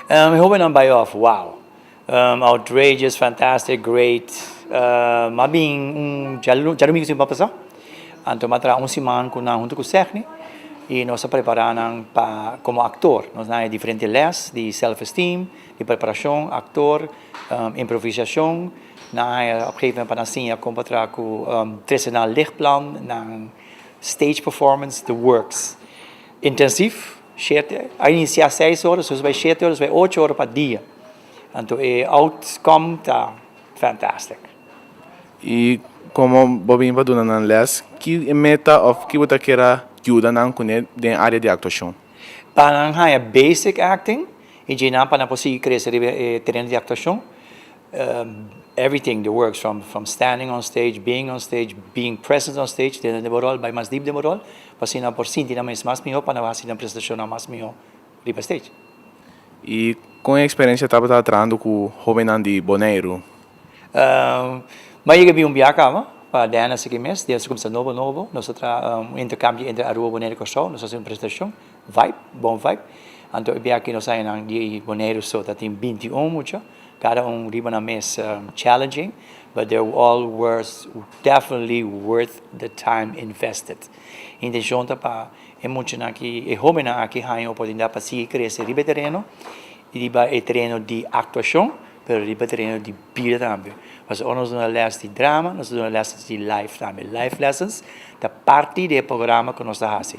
E hobennan bai òf, wow! Outrageous, fantastic, great. M'a bin un djadomingu sin por pasá, anto m'a traha un siman ku nan huntu ku Segni i nos a prepará nan pa komo aktor. Nos na e diferente lès di self-esteem, di preparashon aktor, improvisashon. Nan a haña op gegeven pa nan siña kon pa traha ku tresenan lichtplan, nan stage performance, the works. Intensif. Shete, a inicia seis ora, so bai shete ora, so bai ocho ora pa dia. Anto e outcome ta fantastic. Y como bo bini pa duna nan les, ki e meta of ki bo ta kera yuda nan cune den area di actuacion? Pa nan haya basic acting y djey nan pa nan por sigui crece riba e tereno di actuacion. Everything the works from standing on stage, being on stage, being present on stage den den bo rol bai mas deep den bo rol pa asina bo por sinti nan mes mas miho pa nan hasi nan presentacionnan mas miho riba stage. Y con e experiencia tabata trahando cu hobennan di Boneiru? M'a yega bin un biaha caba pa den asiki mes, den su cuminsa nobo nobo, nos a traha un intercambio entre Aruba, Boneiru y Curaçao, nos a haci un presentacion. Vibe, bon vibe. Anto e biaha ki nos haña nan di Boneiru so ta tin binti un mucha, kada un riba nan mes challenging, but they all was definitely worth the time invested. Intencion ta pa e muchanan ki, e hobennan aki haña oportunidad pa sigui crece riba e tereno y riba e tereno di actuacion. pero riba tereno di bida tambe, pasobra ora nos duna lèsnan di drama, nos ta duna lèsnan di life tambe, life lessons ta parti di e programa ku nos ta hasi.